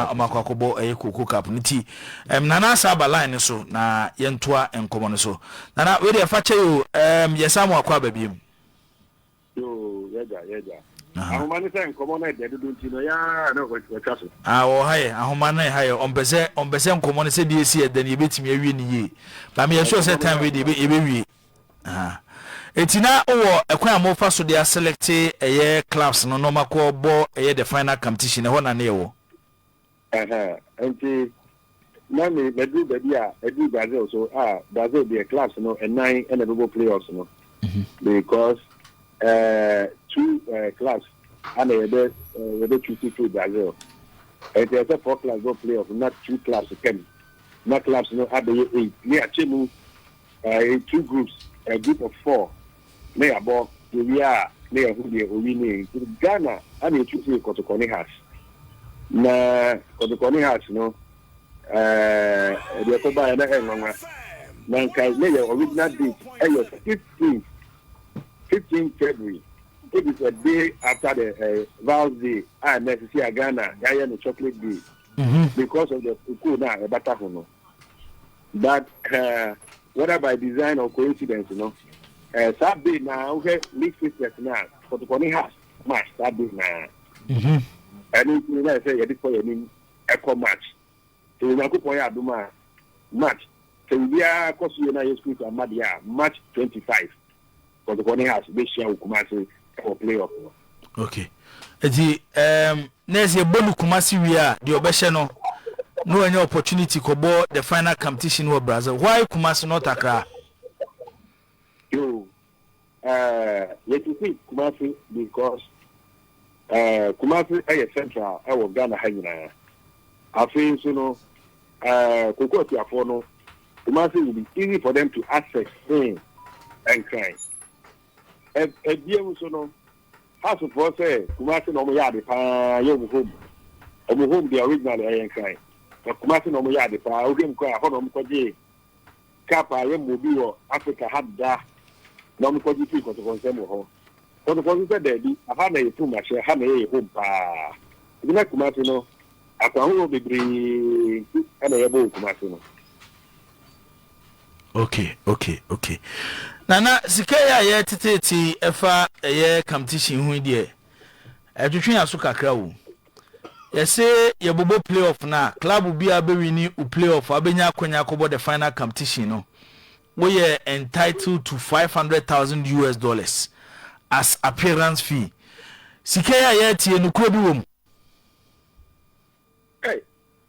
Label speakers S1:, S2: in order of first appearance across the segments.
S1: a ɔmo akɔ akɔbɔ ɛyɛ koko cup no ti ɛɛm nana asa aba line no so na yɛntoa nkɔmɔ no so nana wei deɛ fakyɛ yoo ɛɛm yɛsan mo akɔ aba biem. yoo
S2: yɛgya yɛgya ahoma no sɛ nkɔmɔ no ɛdɛ dodo nti no yaa na wɔtwa so. ah wɔ ha yɛ ahoma
S1: no ɛha yɛ ɔmpɛ sɛ ɔmpɛ sɛ nkɔmɔ no sɛ deɛ esi ɛdɛ no yɛbɛtumi awie ne yie maame yɛ sure sɛ time wei deɛ yɛbɛ yɛbɛwie. Ahaa Enti na wowɔ ɛkwan a mofa so de aselɛkte ɛyɛ clubs no na ɔmo akɔ bɔ ɛyɛ the final competition no ɛhɔ na na ɛwɔ? Ahaa Enti
S2: na me maduru baabi a ɛduru Brazil so a Brazil deɛ clubs no ɛnan na ɛbɛbɔ play offs no because ɛɛɛ two ɛɛɛ clubs ana yɛbɛ ɛɛɛ yɛbɛ choose firi Brazil Enti ɛsɛ four clubs bɔ play off na two clubs pɛm na clubs no abɛyɛ eight ne akyɛ mu In two groups, a group of four na yɛabɔ, yɛwie a na yɛahu deɛ owi ne nti Ghana ana ɛtu firi Kotokɔne Has na Kotokɔne Has no ɛɛ deɛ ɛkɔ baeɛ na ɛnwanwa na nka na yɛ original date ɛyɛ 15 15 February which is a day after the uh, eh, Val's Day a na ɛsisi a Ghana yɛayɛ no chocolate day mm-hmm. because of the kukuo na ɛbata ho no But eh, whether by design or coincidence no, eh, saa bee na wohwɛ League Sisters no a, kɔtɔkɔ ne ha match saa bee na. Mhm. Ɛno nti na ɛsɛ yɛde kɔ yɛn anim ɛkɔ match. Sɛ Onyankopɔn yɛ adom a, match sɛ biribiara kɔ so yie na Yesu Kristo ama deɛ a, match 25 Kɔtɔkɔ ne Hearts bɛhyia wɔ Kumase wɔ play off
S1: no. ok nti um, na ɛsɛ yɛbɔ no Kumase wie a deɛ ɔbɛhyɛ no na wanya opportunity kɔbɔ the final competition wɔ Brazil why Kumase not Accra?
S2: Yo, uh, yɛtete Kumase because Eh, Kumasi yɛ central wɔ Ghana ha nyinaa. Afei nso no, eh, Koko Akuafoɔ no, Kumasi will be easy for them to access seen Nkran. Eh, eh, biam nso no, Hasofoɔ sɛ Kumasi na wɔn yɛ ade paa yɛ wɔn home. Wɔn home deɛ originally ɛyɛ Nkran, but Kumasi na wɔn yɛ ade paa. Wohwɛ mu koraa, ɛhɔ na wɔn kɔgyee. cup a yɛmmɔɔ bi wɔ Afrika ha deda na wɔkɔgye fii Kɔtɔkɔ nsam wɔ hɔ. Kɔtɔkɔ nso sɛ daabi, ɛha na yɛ kum ahyɛ, ha na ɛyɛ yɛ home paa. Nti na Kumasi no, akwan horoɔ bebree nti na yɛbɔ wɔ Kumasi no. Ok,
S1: ok, ok. Nana, sika yi a yɛreteteete yi ɛfa ɛyɛ competition ho yi deɛ, ɛtwetwe yɛn aso kakra o. Yɛse yɛbobɔ play off no a, club biaa bɛwini wo play off a wobɛnya akwanya akɔbɔ the final competition no, woyɛ entitled to five hundred thousand US dollars as appearance fee. Sika yi a yɛretie, nokorɛ bi wɔ mu?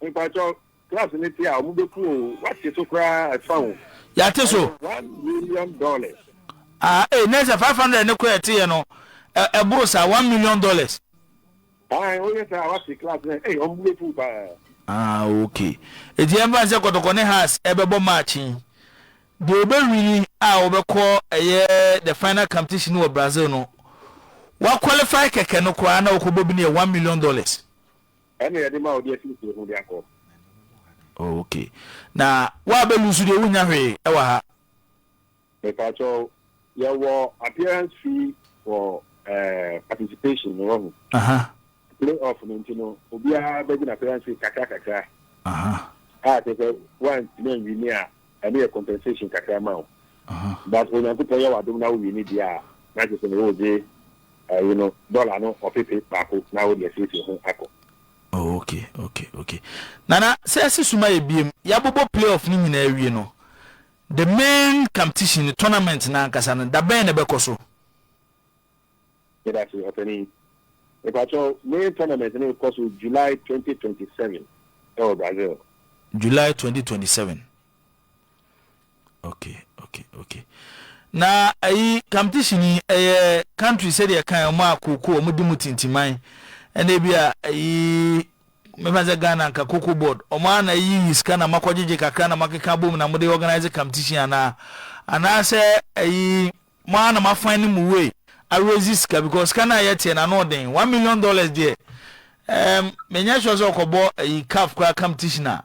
S2: Mpakyɛw, class no te a, ɔmo bɛ ku o, w'ate so koraa ɛfa o. Y'ate so. Ɛyɛ one
S1: million
S2: dollars. Ah
S1: ee, na ɛsɛ five hundred no koraa ɛte yɛ no, ɛ, ɛboro saa, one million dollars.
S2: Ae, o yɛ saa a, w'ate class no, ei, ɔmo bɛ ku o paa. Ah ok, eti
S1: yɛn fa no sɛ Kɔtɔkɔ ne Hearts ɛbɛ bɔ match yi, deɛ ɔbɛ wini a ɔbɛ kɔ ɛyɛ the final competition wɔ Brazil no, w'aqualify kɛkɛ no koraa na ɔkɔ bɔ bi no yɛ one million dollars.
S2: Ɛna yɛde ma ɔde asiesie ho de akɔ. Oh ok
S1: na wa bɛ lusu deɛ wunya hwee ɛwɔ ha. Mepatwɔ
S2: yɛwɔ appearance fee for eh, participation no wahu. Aha. Play off no nti no obiara bɛgye na appearance fee kakra kakra. Aha. A kyerɛ sɛ wantumi anwini a Ɛno yɛ compensation kakra ma wo but Onyankopɔn yɛ w'adom na wowie no deɛ a na kyerɛ sɛ ne wogye ɛyi no dollar no ɔpepe baako na wode asiesie ho akɔ. Oh okay
S1: okay okay Nana sɛ yɛse suma yɛ biem yɛabobɔ play off no nyinaa awie no the main comptition no tournament no ankasa no da bɛn na ɛbɛkɔ so?
S2: Yɛda ase, Ɔpanyin. Mepakyɛw, ne tournament no rekɔ so July twenty twenty seven wɔ Brazil. July
S1: twenty twenty seven. Okay, okay, okay. Na ayi competition yi ɛyɛ country sɛdeɛ kan wɔn a kooko wɔn di mu tintiman ɛna ebi a ayi mefa sɛ Ghana nka cocoa board wɔn a na ayi sika na makɔgyegye kakra na makeka bom na mode organize competition anaa anaasɛ ayi. Mo ara na mo afan ne mo way a raise sika because sika no a ɛyɛ teɛ no ano ɔden. One million dollars deɛ ɛɛm me nyɛ sure sɛ ɔkɔbɔ ɛyi caf koraa competition a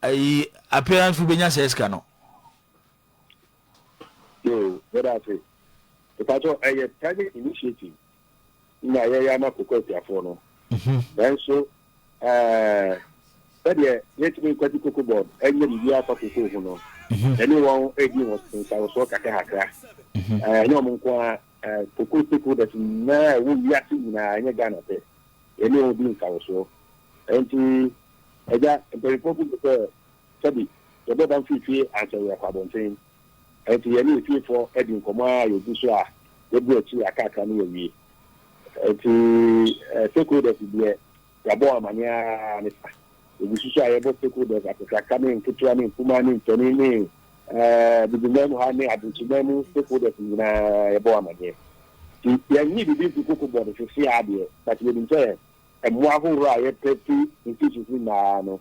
S1: ɛyi appearance wo bɛnya saa sika no.
S2: Yoo, yɛda ase. Mepakyɛw ɛyɛ private initiative. na yɛyɛ ama koko atiafoɔ no mhm. nanso eh, sɛdeɛ yɛntumi nkwati koko bɔɔd ɛnyɛ biribiara afa koko ho no mhm. ɛne wɔn ɛdi wɔn nsawosoɔ kakrakakra mhm. eh, ɛnyɛ wɔn nko a eh, koko stakeholders nyinaa ɛwɔ wiase nyinaa ɛnyɛ ghana pɛ ɛne wɔn di nsawosoɔ ɛnti ɛgya mpanyinfoɔ gu sɛ sɛbi yɛbɛba mfimfini ansɛ yɛ akɔ abɔnten Enti yɛne yɛn fiefoɔ di nkɔmmɔ ara a yɛgu so a yɛbrɛ akyiri a kakra na yɛawie. Enti stakeholders deɛ yɛabɔ wɔn amaneɛ ara ne sa. Yɛgu so nso a yɛbɔ stakeholders, akakraka ne nketewa ne nkumaa ne mpanin ne Bubuman mu ha ne Abunkyeman mu stakeholders nyinaa yɛbɔ wɔn amaneɛ. Nti yɛnnye biribi mfiri koko board seesei ara deɛ but yɛnim sɛ mmoa ahohorɔ a yɛpɛ firi institutions no nyinaa no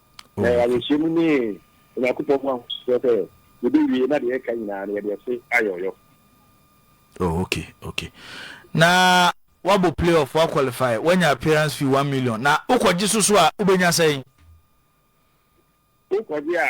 S2: Na yɛn ayɛhyɛmu ne Onyankopɔn ho ahosoɔ sɛ yɛbɛwie na deɛ ɛka nyinaa no yɛde ɛse ayɛ ɔyɔ.
S1: Oh, okay, okay. Na wabɔ playoff, wa qualify, wanya appearance fee one million. Na wokɔgye so so a, wobɛnya sɛn? Wokɔgye
S2: a,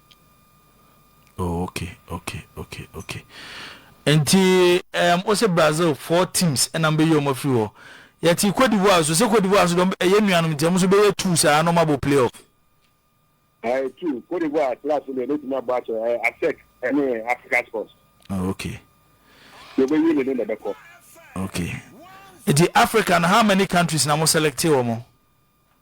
S1: Oh okay okay okay okay nti um, wo se Brazil four teams ɛna mbɛyɛ ɔmo afiri hɔ yɛte Cote d'Ivoire so sɛ Cote d'Ivoire so dɔm ɛyɛ nuanom nti ɔmo nso bɛyɛ two saa na ɔmo abɔ play off. Ɛɛ
S2: two Cote d'Ivoire class no ɛbɛtumi abɔ akyɛ ɛɛ eh, ASEC ɛne eh, Africa Sports. Oh,
S1: okay. Yɛ ɔbɛwie
S2: ne ne na ɛbɛkɔ. Okay.
S1: Nti Africa no how many countries na mo select wɔ mo?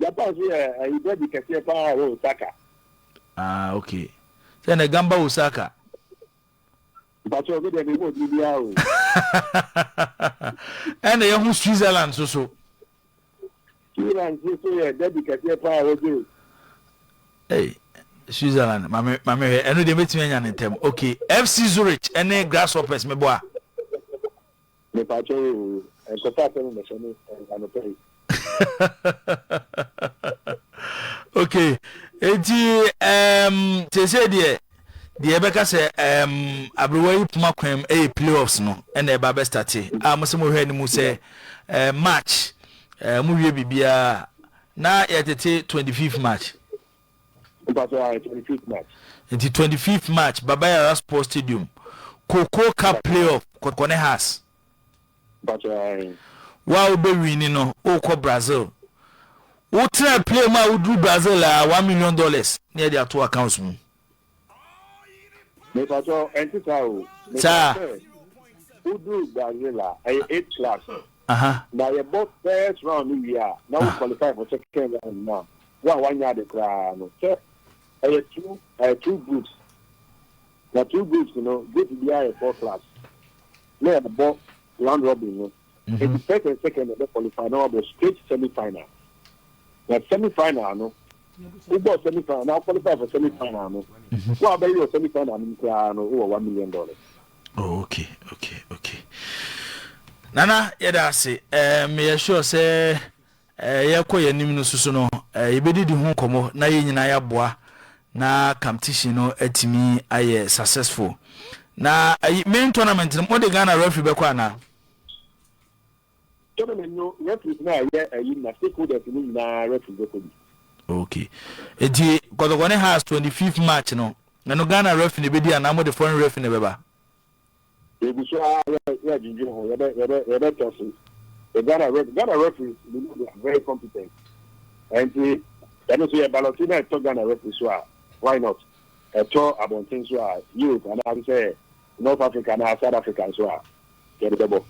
S1: Japan
S2: so yɛ ayigyadi kɛseɛ paa wɔ Osaka. Ah ok
S1: sɛ na ɛgan ba Osaka.
S2: Mpatsɔ mi deɛ mi ho ɔdini biara o.
S1: Ɛna yɛ ho Switzerland so so.
S2: Switzerland so so yɛ dadi kɛseɛ paa wɔ Jay.
S1: Hey. Switzerland mame mame hwɛ ɛno deɛ mɛtumi anya ne ntɛm okay FC Zurich ɛne Grasshoppers meboa
S2: Mepakyɛ wo oo,
S1: nkɔfa asɛm mmɛhyɛ me anɔpa yi. Ok, enti ehm seesei deɛ deɛ yɛbɛka sɛ ehm aberewa yi poma kwan mu ɛyɛ playoffs no ɛna ɛba abɛ starte a mo sɛ mo hwɛ anim sɛ ehm March ehm mo wie biribiara na yɛtete twenty fifth March.
S2: Nti twenty fifth
S1: March Baba Yara Sports Stadium Cocoa Cup Playoff kɔkɔne Haas. Wo a wobɛwini no wokɔ Brazil. Wotena plane mu a woduru Brazil a one million dollars ne yɛde ato accounts mu. Mepatɔ ɛnte
S2: saa o. Saa. Mepatɔ sɛ wodu Brazil a ɛyɛ eight class. Aha. Na yɛbɔ first round no wie a na wo qualify for second round no a wo a wanyɛ ade koraa no sɛ ɛyɛ two ɛyɛ two groups na two groups no group biara yɛ four class na yɛbɔ round robin no. Enti first and second na ɛbɛ qualify na wabɔ straight semi final. Na semi final no, wobɔ semi final na qualify for semi final no, mhm. wo a bɛyɛ wɔ semi final no koraa no wowɔ one million dollars. Oh, okay,
S1: okay, okay. Nana yɛda ase. Um, yɛ sure sɛ Yɛrekɔ yɛn anim no nso so no, yɛbɛdidi ho nkɔmmɔ na yɛn nyinaa yɛaboa na competition no atumi ayɛ successful. Na ayi, main tournament no, mode Ghana referee bɛkɔ anaa? Tournament no, referees no a ɛyɛ ayi no na
S2: stakeholders no nyinaa referee bɛkɔ bi. Okay.
S1: Enti Kɔtɔkɔ ne Hearts 25th March no, ɛno Ghana referee na ɛbɛdi anaa mode foreign referee na ɛbɛba? Yɛgu
S2: so ara yɛredwendwen ho, yɛbɛtɔ so. Ghana ref, Ghana referees we know they are very competent. Ɛnti yɛno so yɛ balɔte na ɛtɔ Ghana referee so a why not? Ɛtɔ abɔnten so a Europe anaasɛ sɛ North Africa anaa South Africa nso a yɛde bɛbɔ.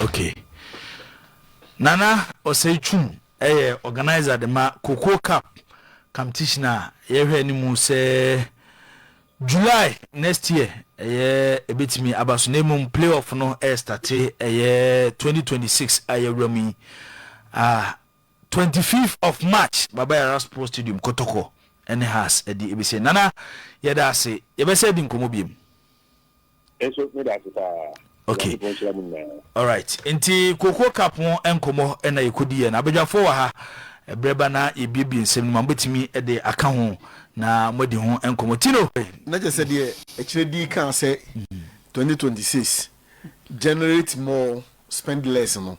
S2: Okay.
S1: Nana Osei Twum yɛ organiser de ma Cocoa Cup competition a yɛhwɛ anim sɛ July next year ɛyɛ ɛbɛtumi aba so na mmom play off no ɛrestate ɛyɛ twenty twenty six a yɛwura mu yi ah twenty fifth of March Baba Yara Sports Stadium Kotoko ɛne Hearts ɛde ɛbɛsi Nana yɛda ase yɛbɛsɛ adi nkɔmmɔ biom.
S2: nso meda ase paa okay
S1: all right nti koko cup ho nkɔmmɔ ɛna yɛkɔdi yɛ no abadwafoɔ wɔ ha ɛberɛ ba na yɛbiebie nsɛm no ma mobɛtumi de aka ho na moadi ho nkɔmmɔ tino na kyɛ sɛ deɛ
S3: ɛkyerɛ dii kaa sɛ 2026 generate more spend less no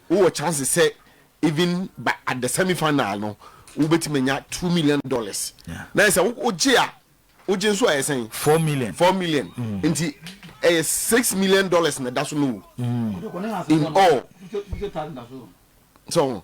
S3: Wowɔ chances sɛ even by at the semi final no wobɛtumi anya two million dollars na ɛsɛ wogye a wogye nso a ɛyɛ sɛn four million four million mm. nti ɛyɛ six million dollars na ɛda so no wo mm. in all so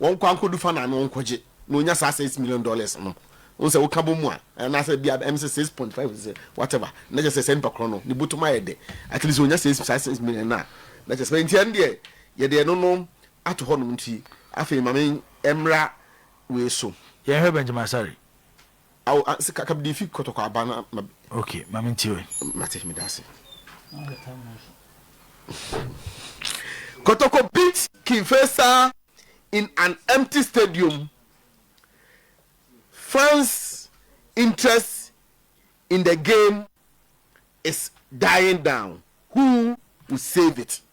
S3: Wɔnkɔ ankodu fa naano nkɔgye na onya saa six million dollars no. Wohu sɛ woka bɔ mu a, anaasɛ ebia ɛm sɛ six point five sɛ whatever, na kyerɛ sɛ saa nipa korɔ no ne botom ayɛ dɛ. At least onya six saa six million no a, na kyerɛ sɛ nti ɛno deɛ yɛde ɛno no ato hɔ nom nti afei ma me mmra wei so. Yɛnhwɛ Benjamin Asare.
S1: Awo a
S3: se kaka bde fi kɔtɔkɔ aba na ma bi. Ok ma me
S1: ntie o. Mate meda ase.
S3: Kɔtɔkɔ beat King Faisal in an empty stadium fans interest in the game is dying down who will save it.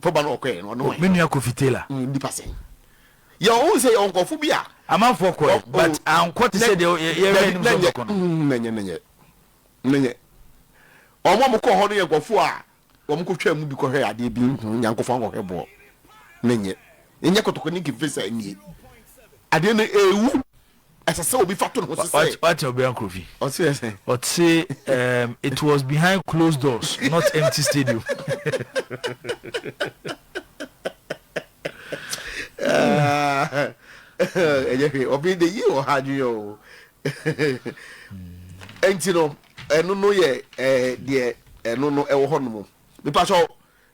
S3: Fo ba no ɔkɔɛ no ɔne wan. Me nua Kofi Taylor. Mm
S1: nipa sɛn.
S3: Yɛ ɔhu sɛ yɛ ɔnkɔfo bi a. Amanfoɔ kɔɛ
S1: but ankɔ te sɛ deɛ yɛ yɛ yɛ nim sɛ ɔkɔ no. Mm na nyɛ na nyɛ
S3: na nyɛ. Wɔn a wɔkɔ hɔ no yɛ nkɔfo a wɔn kɔ twaa mu bi kɔ hwɛ adeɛ bi mm nyankɔfo ankɔ hwɛ boɔ na nyɛ. Nyɛ kɔtɔkɔ ne nkefe sɛ nie. Adeɛ no ewu. ɛsɛ sɛ obi fa to ne ho sesɛ. wate ɔbea nkorofi
S1: ɔte sɛ
S3: ɔte um,
S1: it was behind closed doors not empty stadium
S3: ɛyɛ hwee ɔbɛn de yi wɔ ha adwene o ɛnti no ɛno no yɛ ɛɛ deɛ ɛno no ɛwɔ hɔ nom mipa sɔ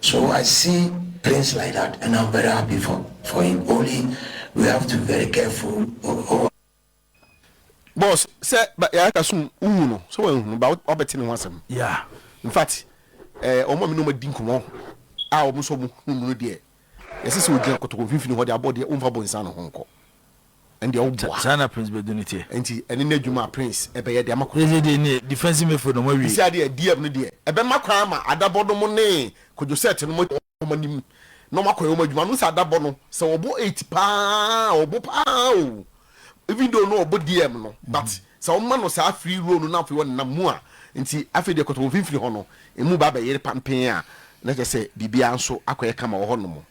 S4: So I see things like that and am very happy
S3: for for him only we have to be very careful oh. Boss sɛ ba yɛ aka sum wohu no sɛ wɔn ehunu ba wabɛte ne ho asɛm. Yeah. In fact ɛɛ eh, wɔn a mi na wɔn adi nkɔmɔ a wɔn nso wɔn hu mu no deɛ yɛsɛ sɛ ogyina kotoko mfimfini hɔ de abɔ deɛ wɔn fa bɔ nsa no ho nkɔ. Ɛndeɛ wo boa. Saa na prince bɛdu ne
S1: teɛ. Nti ɛne no adwuma a
S3: prince ɛbɛyɛ de ama kotoko. Ɛsɛ deɛ neɛ defensive
S1: midfield no moawie. Sisia deɛ DF no deɛ
S3: ɛbɛma kwan ama adabɔ nom ne kwadwosɛt nom atu wɔn anim na wɔn akɔyɛ wɔn adwuma. Nom sɛ adabɔ no sɛ wɔbɔ eight paa a wɔbɔ paa o even though no wɔbɔ DM no but sɛ wɔma no saa free role no na afei wɔnenam mu a nti afei deɛ kotoko mfimfini hɔ no emu ba bɛyere pampee a na kyerɛ sɛ biribiara nso akɔyɛ kama wɔ hɔ nom.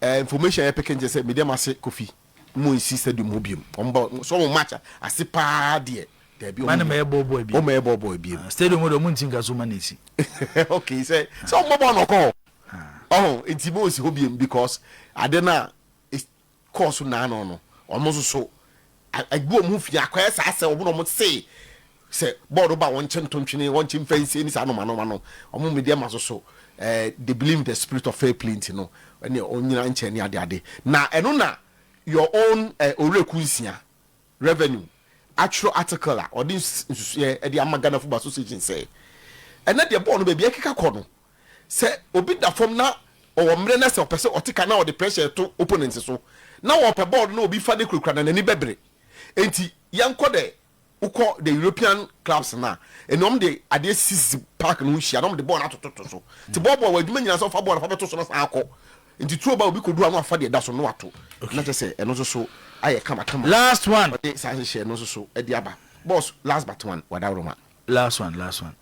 S3: Eh information yɛ peke nkyɛ sɛ me deɛ mase kofi mo nsi stadium ho biom wɔn ba sɛ wɔn match ase paa deɛ daabi wɔn mɛ bɔ
S1: bɔ biom wɔn mɛ bɔ bɔ biom
S3: stadium deɛ wɔn nti nka so
S1: ma na esi okay sɛ
S3: sɛ wɔn bɔ bɔ na ɔkɔ hɔ ɔho nti mo nsi ho biom because ade na kɔɔ so naa no no, wɔn nso so agu wɔn ho fi. Akɔyɛ saa sɛ wɔn na wɔse sɛ bɔɔl ba wɔn nkyɛn ntontwene, wɔnkye mfa nsie ne saa nnoɔma nnoɔma no. Wɔn media ma so so eh, they believe in the spirit of fair play nti no, ɛne ɔnyina nkyɛn ne ade ade. Na ɛno na your own eh, Owuraku Nsia, Revenue, atwerɛ article a ɔde nsusuɛ de ama Ghana Football Association sɛ ɛnɛ deɛ bɔɔl no baabi ɛkeka kɔ no, sɛ obi da fam na ɔwɔ mmerɛ na sɛ ɔpɛ sɛ ɔte ka na ɔde pressure reto opponent so na wɔpɛ bɔɔl no na obi fa no kurakura na n'ani bɛbere. Enti yɛnkɔ dɛ wokɔ the European clubs no a, ɛnna wɔn de adeɛ sisisisi park no ho hyia na wɔn de bɔɔl no atototo so. Nti bɔɔl bɔɔl wɔ adwuma nyinaa sɛ ɔfa bɔɔl no fa bɛto so na san akɔ. Nti turo ba obi kɔdu hɔ a na wafa deɛ ɛda so na wato. Na kyerɛ sɛ ɛno nso so ayɛ kamakama a Last one. wɔde
S1: saa nhyehyɛɛ no nso so
S3: de aba. Boss last but one, Wadawuroma. Last one, last
S1: one.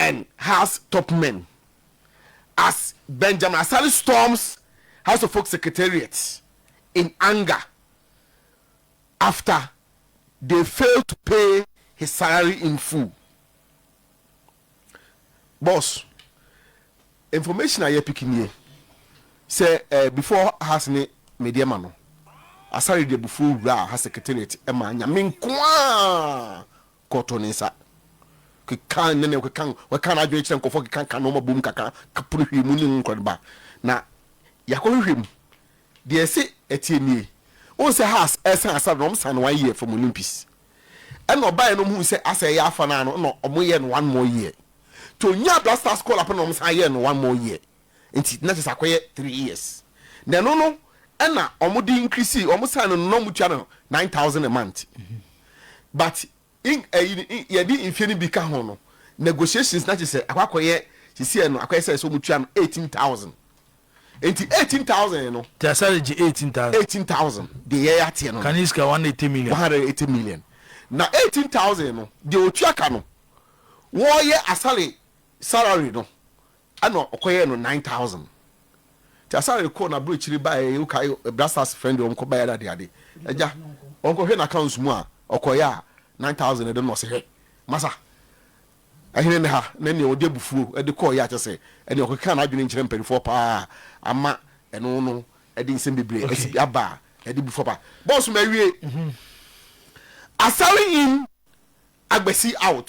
S3: and House top men as Benjamin Asare storms House of Folk Secretariat in anger after they failed to pay his salary in full. Boss, information a yɛpiki nie sɛ eh, before House ne medeɛ ma no, Asare de abufuo wuraa House Secretariat ma nyame nkoaa Kɔ to ne nsa. Keka ne ne keka keka n'adwene kyerɛ nkɔfoɔ keka ka nɔɔma bom kaka kapono hwii mu ne ho nkɔrɔ ba na yakɔ hwehwɛ mu deɛ ɛse ɛteɛ nie wohu sɛ has ɛsan asara na ɔmo san no one year from Olympus ɛna ɔbaeɛ no ɔmo hu sɛ asɛ ɛyɛ afa naa no na ɔmo yɛ no one more year to nya Black Stars call up na ɔmo san yɛ no one more year Nti na kyerɛ sɛ akɔyɛ three years na ɛno no ɛna wɔn de increase wɔn sign no na wɔn tua no nine thousand a month but in ɛyi eh, yɛde mfie no bi ka ho no negotiations na kyerɛ sɛ akɔ akɔyɛ sisi ɛno akɔyɛ sɛ ɛsɛ wɔn tua no eighteen thousand nti eighteen thousand no. tí a sáré gye
S1: eighteen thousand. eighteen thousand de
S3: yɛ ateɛ no. kane sika one eighty million. one
S1: hundred eighty million na eighteen
S3: thousand no de otua ka no wɔyɛ asare salary no Ɛna ɔkɔyɛɛ no nine thousand nti asaa rekɔ na aburokyire baeɛ wokae bra stars frɛ no deɛ ɔnkɔ baeɛ ade ade agya ɔnkɔhwɛ n'accounts mu a ɔkɔeɛ a nine thousand ɛde no ɔse hwɛ masa ɛhene ne ha na nea ɔde abufuo ɛde kɔeɛ a kyɛ sɛ ɛne ɔkeka n'adwene nkyerɛ mpanimfoɔ paa ama ɛno no ɛde nsɛm bebree ɛsi bi aba a ɛde bu faba bɔɔso ma awie asare in agbasi out.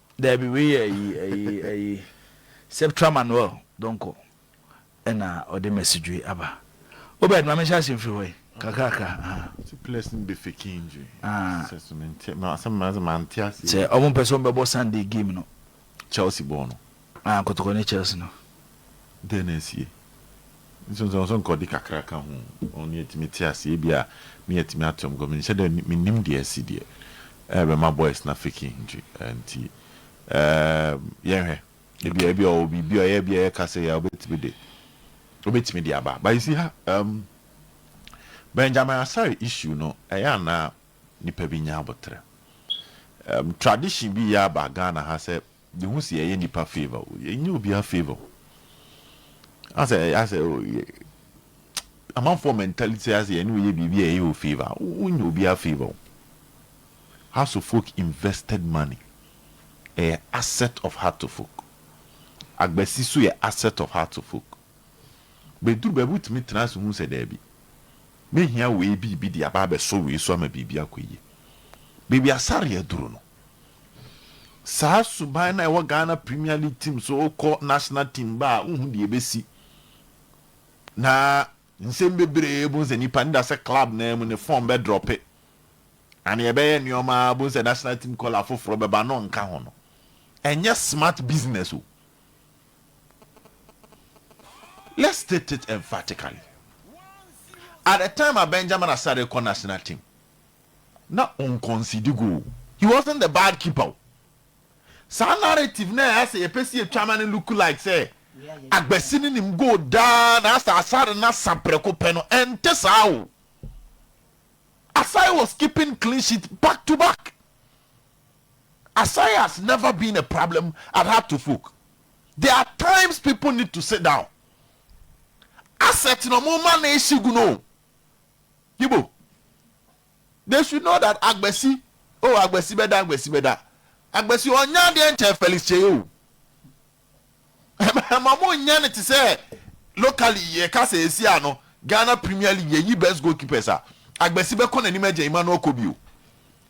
S3: Daabi, wei yɛ
S1: ayi, ayi, ayi, Septra Manuel Donkor na ɔde Mɛsidwoe aba. Obed, ma menhyɛ ase mfiri hɔ yi, kakrakra, ah. Sɛ players no
S5: bɛ fake injury, sɛ so mente,
S1: asɛm no sɛ mante aseɛ yie. Sɛ wɔn mpɛ sɛ wɔn bɛbɔ Sunday game no. Chelsea bɔɔ no.
S5: Ah, kɔtɔkɔ ne
S1: Chelsea no. Dɛn na asie?
S5: Nsonsonoso nka ɔde kakra ka ho. Ɔno nea etumi te ase. Ebia me a etumi ato me kɔ, menhyɛ da nni, minnim deɛ asi deɛ ɛrebɛma boys no afeke nti, nti ɛɛm yɛnhwɛ. Ebia, ebia ɔwɔ biribi a ɔyɛ bi a yɛka sɛ yɛ a obetumi de, obetumi de aba. But you see ha, ɛɛm Benjamin Asare issue no, ɛyɛ a na nnipa bi nyɛ aboterɛ. Ɛɛm tradition bi reyɛ aba Ghana ha sɛ Yehu sɛ yɛyɛ nnipa favour o, yɛnyɛ obiara favour o. Asɛ asɛ o yɛ amanfoɔ mentality sɛ asɛ yɛne wo yɛ biribi a yɛyɛ wo favour a, wonyɛ obiara favour o. Hartofolk invested money ɛyɛ asset of Hartofolk. Agbasi nso yɛ asset of Hartofolk. Bɛduru baabi wotumi tena ase hu sɛ daabi, mɛhia wei biribi de aba abɛsɔ wei so ama biribi akɔ yie. Baabi Asare aduru no, Saa suban no a ɛwɔ Ghana Premier League team so kɔ national team ba a wonhu deɛ ɛbɛsi. Na nsɛm bebree bohu sɛ nnipa no da sɛ club no ara mu no form bɛdrɔpe anaa yɛbɛyɛ nneɛma ara bohu sɛ national team kɔla foforɔ bɛba no nka ho no. Ɛnyɛ smart business o. Let's state it emphatically. At the time a Benjamin Asare rekɔ national team, na ɔnkɔnsidi goal. He wasn't the bad keeper o. Saa narrative no a ɛyɛ sɛ yɛpɛ sɛ yɛtwa ma no look like sɛ Agbasi no nim goal daa na asɛ Asare no asa prɛko pɛ no, ɛnte saa o. Asare was keeping clean sheet back to back. Asare has never been a problem at Hartlefolk. There are times people need to sit down. Asset na ɔmo ma no ehye gu no o. Yibo, they should know that agbasi oh agbasi bɛda agbasi bɛda agbasi ɔnyɛ adeɛ nkyɛn Felix Kyei o ɛma ɔmo nyɛ no te sɛ locally yɛka sɛ esi a no Ghana Premier League yɛyi best goalkeepers a agbasi bɛkɔ n'anim agya Emmanuel Kobi o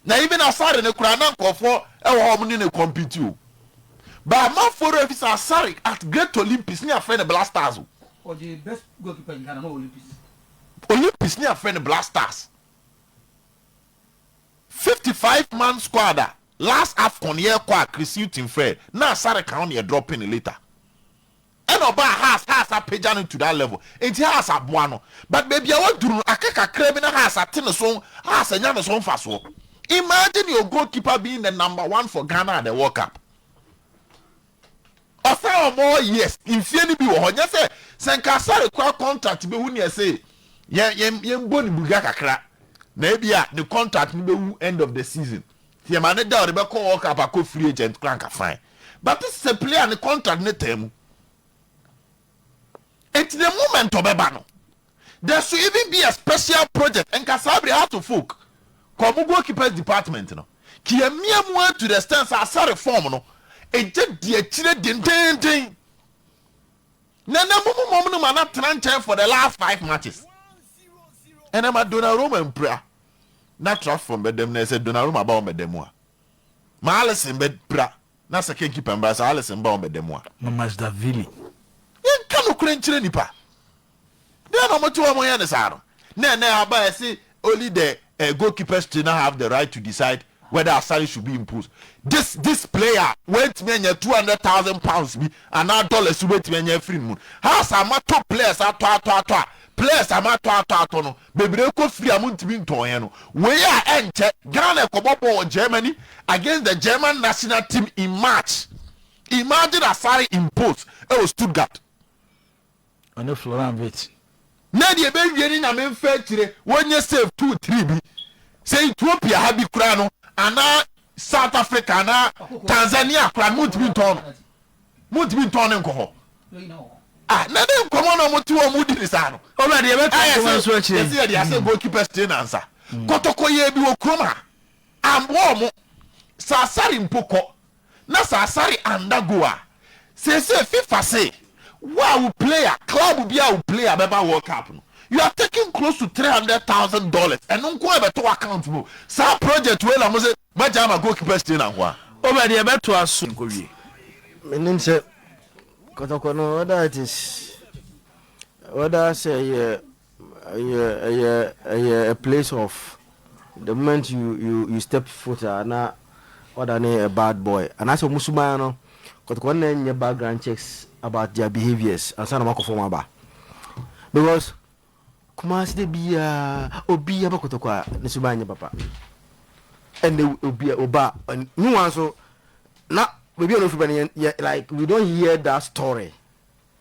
S5: Na even asare no koraa na nkurɔfoɔ wɔ hɔ a wɔne no compete o. But amanfoɔ werɛ afi sɛ asare at great Olympics ne yɛafrɛ no blastars o. Ɔgyee best
S6: goalkeeper in Ghana no wɔ Olympics. Olympics
S3: ne yɛafrɛ no blastars. Fifty five man squad a last Afcon yɛrekɔ a Chris Hughton frɛɛ na asare ka ho na yɛdrɔpe no later. Ɛna ɔbaa Haas, Haas apagya no to that level, nti Haas aboa no, but baabi a waduru no aka kakra bi na Haas ate ne so, Haas anya ne so mfasoɔ. Imagine your goalkeeper being the number one for Ghana at the World Cup. Ɔsan wɔ more years, mfie no bi wɔ hɔ, nyɛ sɛ sɛ nka Sarri kora contract bɛwu ne ɛse yɛn yɛn yɛn bɔ ne buga kakra na ebi a ne contract no bɛwu end of the season. Thiam ane da a ɔde bɛkɔ World Cup akɔ free agent koraa anka fine but this is a player ne contract ne taa mu nti the moment ɔbɛba no there should even be a special project nka saa bere Hearts of Oak kɔ ɔmo goalkeepers department no kiamia mu ara to the extent sɛ asa reform no egya di akyire dendeenden na na mo mom no ma na tena nkyɛn for the last five matches ɛnɛ ma Donnarumma mpira. na trap fam bɛda mu na sɛ Donnarumma ba wɔn bɛda mu a, ma Alisson bɛpira na sɛ Ken Kipa mbra sɛ Alisson ba wɔn bɛda mu a. Mamashvili.
S1: Yɛnka
S3: nokorɛ nkyerɛ nnipa. Deɛ na wɔte hɔ a wɔyɛ no saa no. Na ɛnɛ aba ɛse only the uh, goalkeepers trainer have the right to decide whether Asare should be imposed this this player wantumi anya two hundred thousand pounds bi anaa dollars bi wobɛtumi anya afiri ne mu no has a matɔ players atɔ atɔ atɔ a players a matɔ atɔ atɔ no bebree kɔ firi a montumi ntɔɔeɛ no wei a ɛnkyɛ Ghana ɛkɔbɔ bɔɔl wɔ Germany against the German national team in March imagine Asare imposed ɛwɔ Stuttgart
S1: ɔne Florent Witz. Na deɛ
S3: ɛbɛwie no Nyame mfa akyire, wɔnyɛ save two three bi, sɛ Ethiopia ha bi koraa no anaa South Africa anaa Tanzania koraa no montumi ntɔn no, montumi ntɔn no nkɔ hɔ. Ah, na ne nkɔmɔ na ɔmo te hɔ ɔmo di ne saa no. Ɔbra deɛ ɛbɛka Ayɛ nkɔmɔ
S1: nso sɛ akyire. yɛsɛ yɛde asɛ goalkeeper
S3: stay na nsa. Kɔtɔkɔyɛɛ bi wɔ kurom ha, ammboa ɔmo. Sɛ asare mpo kɔ, na
S5: sɛ asare anda go a, seesei fifa se wo a wo player, club biaa wo player bɛba world cup no you are taking close to three hundred thousand dollars ɛno nko ara bɛto w'account mu saa project wei na mo se moagyae ama goalkeepers trainer nko ara. Obed yɛbɛtoa
S1: so nkɔ wie. Menim sɛ
S7: kɔtɔkɔ no whether it is whether sɛ ɛyɛ Ɛyɛ ɛyɛ ɛyɛ a place of the moment you you you step foot a na wadane a bad boy anaasɛ wɔn suban no kɔtɔkɔ nna nyɛ background checks about their behaviours ansa na wɔn akɔ fam aba because kumasi de bia obi aba kɔtɔkɔ a ne suban nyɛ papa ɛnna obi oba ne wɔn nso na baby a na ofi ba no yɛ like we don't hear that story.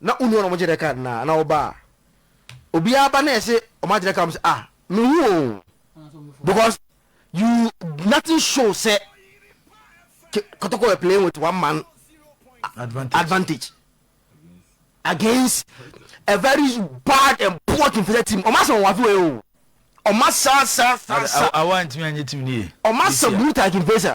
S7: na wonni hɔ na wɔgye dɛ kan no a, na wɔba a, obiara ba na yɛse wɔagye dɛ kan wɔse ah menhu o because you nothing show sɛ Kotoko were playing with one man advantage, advantage against a very bad and poor Kimfisɛ team. Ọma sɛ wɔn afei o. Ọma sa sa sa
S1: sa. Awa ntumi anye team ni ye. Ọma sa brutal
S7: Kimfisɛ.